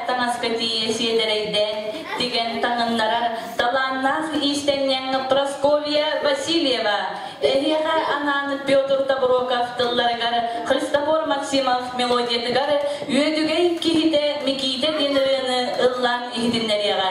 таҥаска тиийэ сиэдэрэйдээн тигэн таҥыннарар талааннаах иистэнньэҥ Прасковья Васильева, эһиэхэ анаан Петр Тоброков тылларыгар, Христофор Максимов мелодиятыгар үөдүгэй киһитэ Микиитэ диэн ырыаны ыллаан иһитиннэриэҕэ.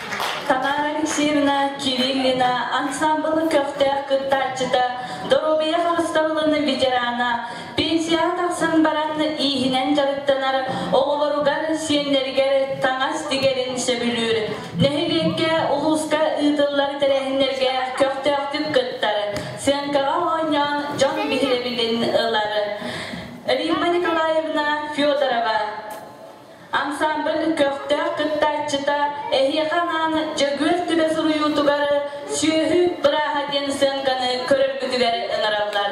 Тамара Алексеевна Кириллина ансамблын көхтөөх кыттааччыта, доруобуйа харыстабылын ветерана, пенсияҕа тахсан баран ииһинэн дьарыктанар оҕолоругар, сиэннэригэр таҥас тигэрин сөбүлүүр. Нэһилиэккэ, улууска ыытыллар тэрээһиннэргэ көхтөөхтүк кыттар, сценкаҕа оонньоон дьон биһирэбилин ылар. Римма Николаевна Федорова Ансаамбыл көхтөөх кыттааччыта эһиэхэ анаан Дьөгүөр түбэ суруйуутугар «Сүөһү бырааһа» диэн сыаҥканы көрөргүтүгэр ыҥыраллар.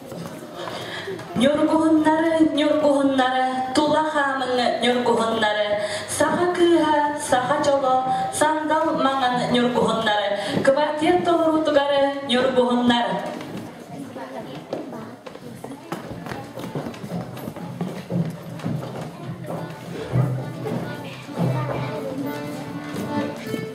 Ньургуһуннары, ньургуһуннары, тула хаамыҥы ньургуһуннары, саха кыыһа, саха дьоло, сандал маҥан ньургуһуннары, квартет толоруутугар ньургуһуннар.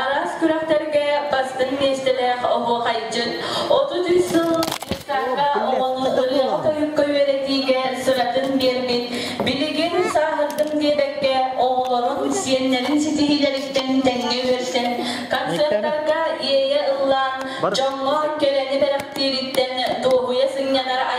араас күрэхтэргэ бастыҥ миэстэлээх оһуохайдьыт отут үс сыл быыстапка оҕону ырыаҕа-тойукка үөрэтиигэ сыратын биэрбит билигин сааһырдым диэбэккэ оҕолорун сиэннэрин ситиһиилэриттэн тэҥҥэ үөрсэн концертарга иэйэ ыллаан дьоҥҥо кэрэни бэлэхтиириттэн дуоһуйа сынньанар айылҕа